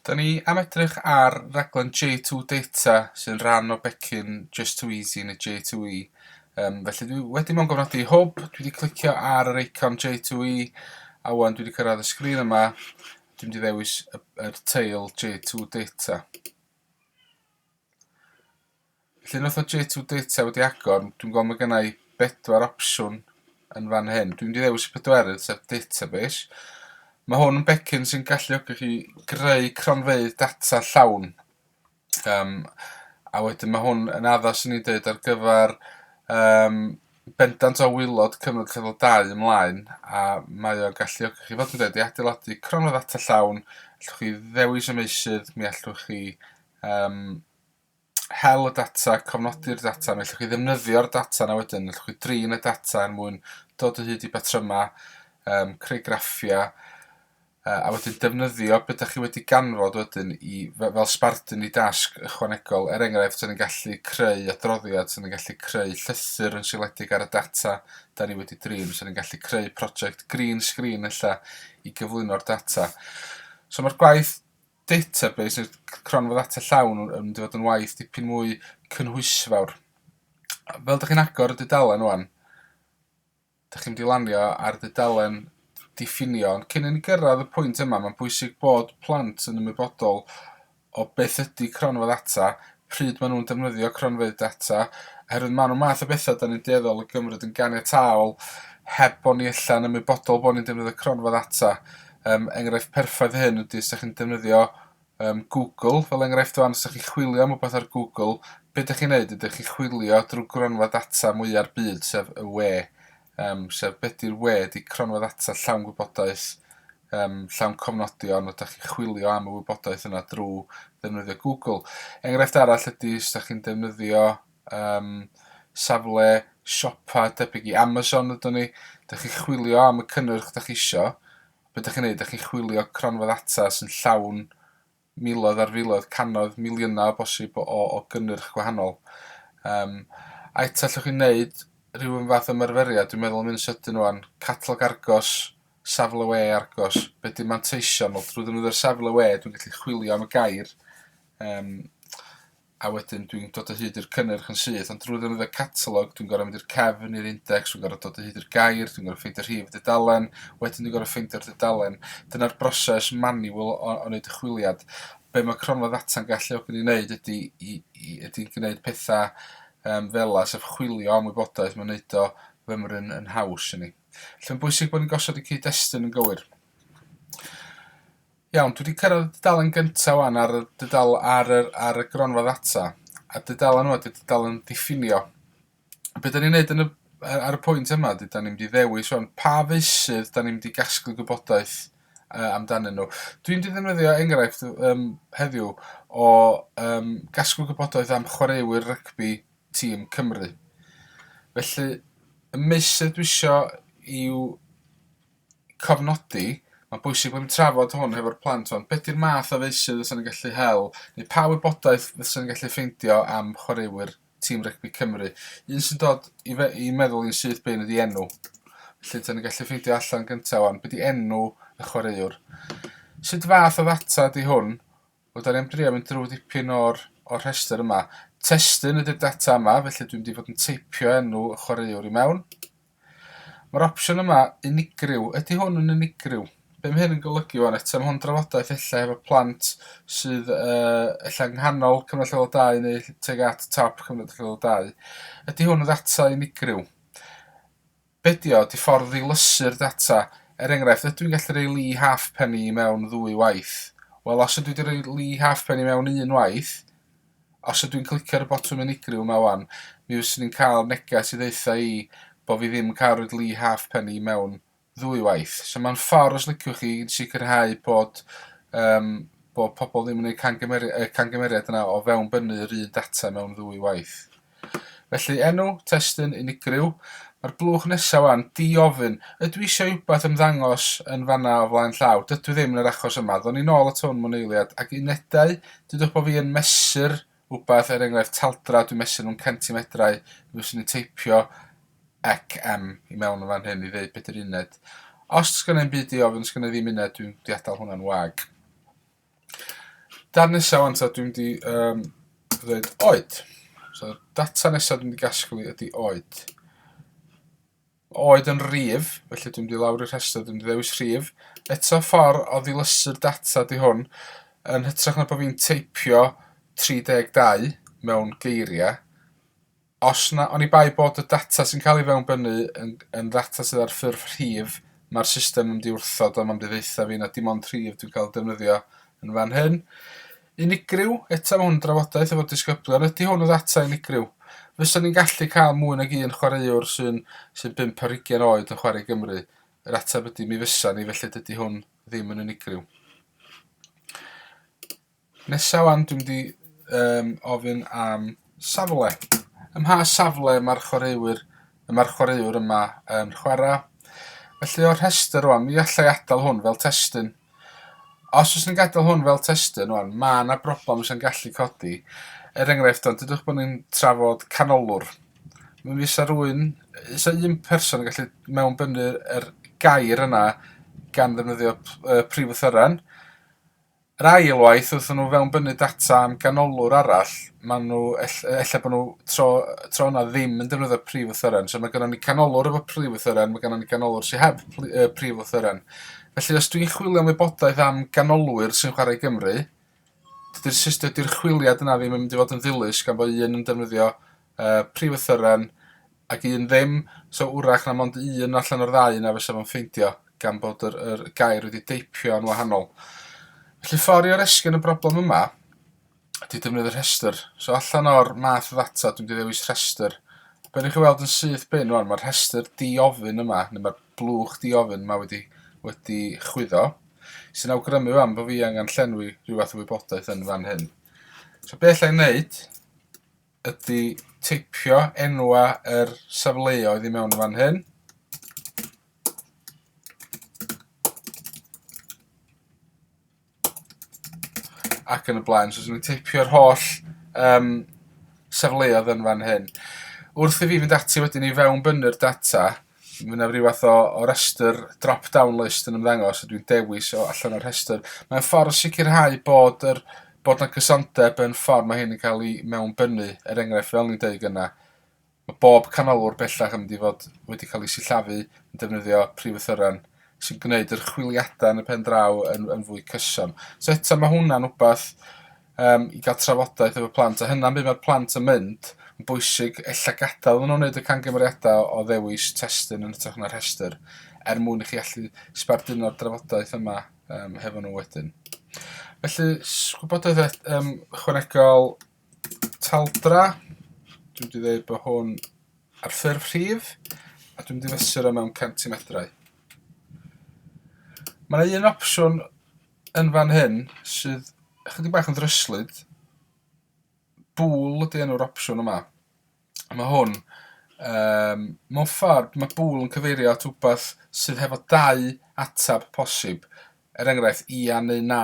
Da ni am edrych ar raglen J2 Data sy'n rhan o becyn Just Too Easy yn y J2E. Um, felly dwi wedi mewn gofnodi hwb, dwi wedi clicio ar yr eicon J2E a wan dwi wedi cyrraedd y sgrin yma. Dwi'n wedi ddewis y, y teil J2 Data. Felly wnaeth o jit o data wedi agor, dwi'n gweld mae gennau bedwar opsiwn yn fan hyn. Dwi'n wedi ddewis y pedwerydd, sef database. Mae hwn yn becyn sy'n galluogi chi greu cronfeydd data llawn. Um, a wedyn mae hwn yn addas i ni dweud ar gyfer um, bendant o wylod cyfnod cyfnod dau ymlaen a mae o'n galluogi chi fod yn dweud i adeiladu cronfeydd data llawn, allwch chi ddewis y meisydd, mi allwch chi um, hel y data, cofnodi'r data, neu allwch chi ddefnyddio'r data yna wedyn, allwch chi drin y data er mwyn dod o hyd i batrymau, um, creu graffiau, uh, a wedyn defnyddio beth ydych chi wedi ganfod wedyn i, fel sbardun i dasg ychwanegol. Er enghraifft, sy'n ni'n gallu creu adroddiad, sy'n ni'n gallu creu llythyr yn sioledig ar y data da ni wedi drin, sy'n ni'n gallu creu prosiect green screen ella i gyflwyno'r data. So mae'r gwaith database neu'r cronfa ddata llawn yn mynd i fod yn waith dipyn mwy cynhwysfawr. Fel dych chi'n agor y dudalen rwan, dych chi'n mynd i lanio ar dudalen diffinio, ond cyn i ni gyrraedd y pwynt yma, mae'n bwysig bod plant yn ymwybodol o beth ydy cronfa ddata, pryd maen nhw'n defnyddio cronfeydd data, oherwydd maen nhw'n math o bethau da ni'n dueddol o gymryd yn ganiataol heb bod ni allan yn ymwybodol bod ni'n defnyddio cronfa ddata. Um, enghraifft perffaith hyn ydy os ydych chi'n defnyddio um, Google, fel enghraifft o'n, os ydych chi'n chwilio am rhywbeth ar Google, beth ydych chi'n neud? Ydych chi'n chwilio drwy gronfa data mwyaf byd, sef y we. yym sef be' 'di'r we 'di cronfa ddata llawn gwybodaeth yym llawn cofnodion fel 'dach chi'n chwilio am y wybodaeth yna drw ddefnyddio Google. Enghraifft arall ydi os 'dach chi'n defnyddio yym safle siopa debyg i Amazon ydwn ni 'dach chi'n chwilio am y cynnyrch 'dach chi isio be' 'dach chi'n neud 'dach chi'n chwilio cronfa ddata sy'n llawn miloedd ar filoedd, cannoedd, miliynau o bosib o o gynnyrch gwahanol. Yym a eto allwch chi wneud rhyw un fath o ymarferiad, dwi'n meddwl am un sydyn ŵan, catalog Argos, safle we Argos, be' 'di manteision? Wel drwy ddefnyddio'r safle we dwi'n gallu chwilio am y gair yym a wedyn dwi'n dod o hyd i'r cynnyrch yn syth, ond drwy ddefnyddio catalog, dwi'n gorau mynd i'r cefn, i'r index, dwi'n gorau dod o hyd i'r gair, dwi'n gorau ffeindio rhif y dudalen, wedyn dwi'n gorau ffeindio'r dudalen. Dyna'r broses manual o, o wneud y chwiliad. Be mae cronfa ddata'n galluogi ni wneud ydy, i, i, ydy gwneud pethau um, fel la, sef chwilio am wybodaeth, mae'n wneud o fymryn yn haws i ni. Felly'n bwysig bod ni'n gosod y cyd-destun yn gywir. Iawn, dwi 'di cyrraedd y dudalen gyntaf 'wan ar y dudal ar yr ar y gronfa ddata, a dudalen yma 'di'r dudalen diffinio. Be' 'dan ni'n neud yn y yy ar y pwynt yma ydi 'dan ni'n mynd i ddewis wan pa feysydd 'dan ni'n mynd i gasglu gwybodaeth yy amdanyn nhw. Dwi'n mynd i ddefnyddio enghraifft yym heddiw o yym gasglu gwybodaeth am chwaraewyr rygbi tîm Cymru. Felly y meysydd dwi isio i'w cofnodi, mae'n bwysig bod yn trafod hwn hefo'r plant hwn, beth di'r math o feysydd fysa'n gallu hel, neu pa wybodaeth fysa'n gallu ffeindio am chwaraewyr tîm rygbi Cymru. Un sy'n dod i, fe, i meddwl i'n syth bein ydi enw. Felly, dyn ni'n gallu ffeindio allan gyntaf o'n, beth di enw y chwaraewr. Sut fath o ddata di hwn Wel, da ni am drio mynd drwy ddipyn o'r, o'r rhestr yma. Testun ydy'r data yma, felly dwi'n wedi bod yn teipio enw y chwaraewr i mewn. Mae'r opsiwn yma unigryw. Ydy hwn yn unigryw? Be mae hyn yn golygu o'n eto? Mae hwn drafodaeth efallai efo plant sydd uh, efallai nghanol cyfnod lleol 2 neu teg at top cyfnod lleol 2. Ydy hwn yn ddata unigryw? Be ydy o? Ydy ffordd ddilysu'r data. Er enghraifft, ydw i'n gallu rhoi Lee Halfpenny i mewn ddwy waith? Wel, os ydw i 'di rhoi Lee Halfpenny i mewn un waith, os ydw i'n clicio ar y botwm unigryw 'ma 'wan, mi fyswn i'n cael neges i ddaetha i bo' fi ddim yn cael rhoid Lee Halfpenny i mewn ddwy waith. So mae'n ffordd, os liciwch chi, i sicrhau bod um, bod pobl ddim yn gwneud camgymeriad, y camgymeriad yna o fewnbynnu yr un data mewn ddwy waith. Felly enw, testun, unigryw. Mae'r blwch nesa wan, di ofyn, ydw i isio i wbath ymddangos yn fanna o flaen llaw? Dydw i ddim yn yr achos yma. Ddown ni nôl at hwn mewn eiliad. Ac unedau, dudwch bo fi yn mesur wbath, er enghraifft taldra, dwi'n mesur nhw'n centimedrau, mi fyswn i'n teipio cm i mewn yn fan hyn i ddeud beth ydy'r uned. Os does gen i ddim byd i ofyn, does gen i ddim uned, dwi'n diadal hwnna'n wag. Dar nesaf wan ta dwi'n di um, ddweud oed. So, data nesaf dwi'n di gasglu ydy oed. Oed yn rif, felly dwi'n di lawr i'r rhestr, dwi'n di ddewis rif. Eto ffordd o ddilysu'r data di hwn, yn hytrach na bod fi'n teipio 32 mewn geiriau, Os na, oni bai bod y data sy'n cael ei fewnbynnu yn, yn ddata sydd ar ffurf rhif, mae'r system yn mynd i wrthod o, mae'n mynd i ddeitha fi na dim ond rhif dwi'n cael defnyddio yn fan hyn. Unigryw, eto mae hwn yn drafodaeth efo disgyblion, ydy hwn yn ddata unigryw? Fysa ni'n gallu cael mwy nag un chwaraewr sy'n sy bimp ar hugen oed yn chwarae Gymru? Yr ateb ydy mi fysa ni, felly dydy hwn ddim yn unigryw. Nesa wan dwi'm di yym ofyn am safle. Ym mha safle ma'r chwaraewyr y ma'r chwaraewr yma yn chwara'? Felly o'r rhestr rwan mi allai adal hwn fel testun. Os fyswn i'n gadal hwn fel testun rwan ma' 'na broblam sy'n gallu codi er enghraifft t'od dudwch bo' ni'n trafod canolwr mi fysa rywun yy 'sa un person yn gallu mewnbynnu yr gair yna gan ddefnyddio p- yy prif lythyren Yr ail waith wrth i nhw fewnbynnu data am ganolwr arall, maen nhw... ell- ella bod nhw tro tro yna ddim yn defnyddio'r prif lythyren. So mae gennym ni canolwr efo prif lythyren, mae gennym ni ganolwr sydd heb pli- yy prif lythyren. Felly os dwi'n chwilio am wybodaeth am ganolwyr sy'n chwarae Gymru, dydy'r system, dydy'r chwiliad yna ddim yn mynd i fod yn ddilys gan bod un yn defnyddio y prif athryran, ac un ddim, so wrach na mond un allan o'r ddau yna fysa fo'n ffeindio, gan bod yr, yr gair wedi deipio yn wahanol. Felly ffordd i oresgyn y broblem yma ydy defnyddio rhestr. So allan o'r math ddata, dwi'n ddewis rhestr. Be ni'n chi weld yn syth bin rwan, mae'r rhestr diofyn yma, neu mae'r blwch diofyn yma wedi, wedi chwyddo, sy'n awgrymu fan bod fi angen llenwi rhywbeth o wybodaeth yn fan hyn. So beth allai'n neud ydy teipio enwau yr safleoedd i mewn yn fan hyn. Ac yn y blaen. So, dwi'n teipio'r holl um, safleoedd yn fan hyn. Wrth i fi fynd ati wedyn i fewn bynnu'r data, Mae yna rhyw fath o, o restr drop-down list yn ymddangos a dwi'n dewis o allan o'r rhestr. Mae'n ffordd o sicrhau bod yr bod na gysondeb yn ffordd mae hyn yn cael ei mewnbynnu. Er enghraifft, fel ni'n deud yna, mae bob canolwr bellach yn mynd i fod wedi cael ei sillafu yn defnyddio prif ythyren sy'n gwneud yr chwiliadau yn y pen draw yn, yn fwy cyson. So eto mae hwnna'n wbath yym i ga'l trafodaeth efo plant a hynna'n be' ma'r plant yn mynd yn bwysig ella gadal i nw neud y camgymeriada o ddewis testun yn ytrach na rhestyr er mwyn i chi allu sbarduno'r drafodaeth yma yym hefo nhw wedyn. Felly s- gwybodaeth et- yym ychwanegol taldra dwi wedi dweud bod hwn ar ffurf rhif a dwi'n mynd i fesur o mewn centimedrau. Mae yna un opsiwn yn fan hyn sydd ychydig bach yn ddryslyd. Bŵl ydy enw'r opsiwn yma. Mae hwn, um, mewn ffordd, mae bŵl yn cyfeirio at wbeth sydd hefo dau atab posib. Er enghraifft, ia neu na,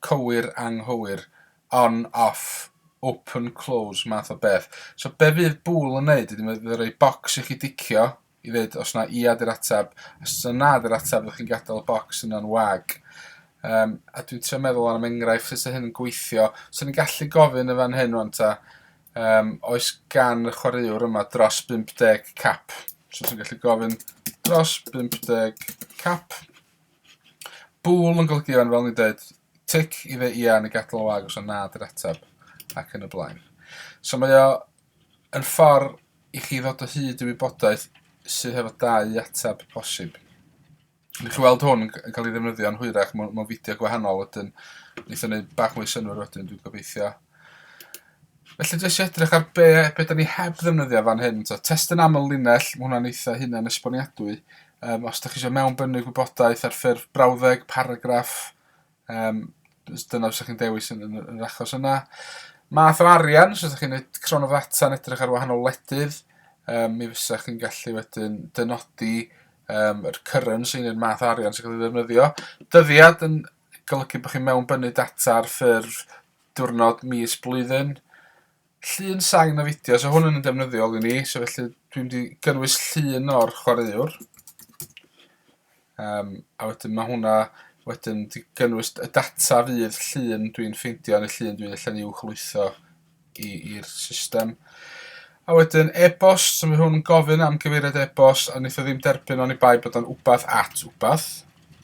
cywir, anghywir, on, off, open, close, math o beth. So be fydd bŵl yn neud ydy mae fydd yn rhoi bocs i chi dicio, i ddeud os na ia di'r atab. Os na na di'r atab, fyddwch chi'n gadael y bocs yna'n wag. Um, a dwi'n trio meddwl am enghraifft sut hyn yn gweithio. So ni'n gallu gofyn y fan hyn o'n ta, um, oes gan y chwaraewr yma dros 50 cap? So sy'n gallu gofyn dros 50 cap. Bwl yn golygu fan fel ni'n dweud, tic i fe ia neu gadael wag os yna na di'r atab ac yn y blaen. So mae o Yr ffordd i chi ddod o hyd i wybodaeth sydd hefo dau ateb posib. Newch chi weld hwn yn cael ei ddefnyddio yn hwyrach mewn, mewn fideo gwahanol wedyn. Neith o'n gwneud bach mwy synwyr wedyn, dwi'n gobeithio. Felly jyst i edrych ar be, be da ni heb ddefnyddio fan hyn. So, test yn aml linell, mae hwnna'n eitha hunan esboniadwy. Um, os da chi eisiau mewnbynnu gwybodaeth ar ffurf brawddeg, paragraff, Um, dyna os ydych chi'n dewis yn, yn, yn yr achos yna. Math o arian, os ydych chi'n gwneud cron o ddata yn edrych ar wahanol ledydd, um, mi fysa chi'n gallu wedyn dynodi um, yr currency neu'r math arian sy'n cael ei ddefnyddio. Dyddiad yn golygu bod chi'n mewnbynnu data ar ffurf diwrnod, mis, blwyddyn. Llun sain a fideo, so hwn yn yn defnyddiol i ni, so felly dwi'n di gynnwys llun o'r chwaraewr. Um, a wedyn mae hwnna wedyn di gynnwys y data fydd llun dwi'n ffeindio yn y llun dwi'n allan i'w chlwytho i'r system. A wedyn e-bost, so mae hwn yn gofyn am gyfeiriad e-bost a wnaeth o ddim derbyn o'n i bai bod o'n wbath at wbath.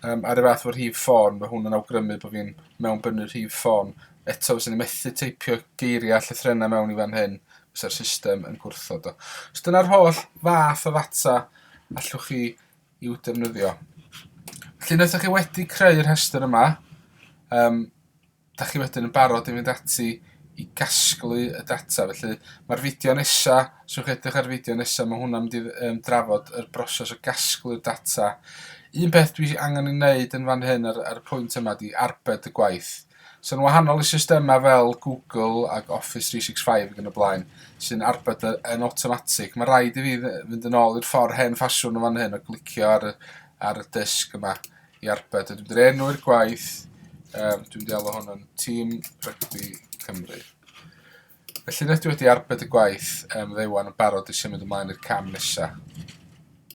um, ar y fath o'r rhif ffôn, mae hwn yn awgrymu bod fi'n mewn bynnu'r rhif ffôn. Eto, fyswn i'n methu teipio geiriau llythrenau mewn i fan hyn, fysa'r system yn gwrthod o. So dyna'r holl fath o ddata allwch chi i'w defnyddio. Felly, wnaethoch chi wedi creu'r rhestr yma, um, dach chi wedyn yn barod i fynd ati i gasglu y data. Felly, mae'r fideo nesa, os yw'ch edrych ar y fideo nesa, mae hwnna'n mynd i um, drafod y broses o gasglu'r data. Un peth dwi angen ei wneud yn fan hyn ar, ar y pwynt yma di arbed y gwaith. So'n wahanol i systemau fel Google ac Office 365 ac yn y blaen, sy'n arbed yn automatic. Mae rhaid i fi fynd yn ôl i'r ffordd hen ffasiwn yn fan hyn o glicio ar y, ar y dysg yma i arbed. Dwi'n mynd i'r enw i'r gwaith. Um, dwi'n mynd i alw hwn yn Team Rygbi Cymru. Felly nes dwi wedi arbed y gwaith um, ddewan yn barod eisiau mynd ymlaen i'r cam nesaf.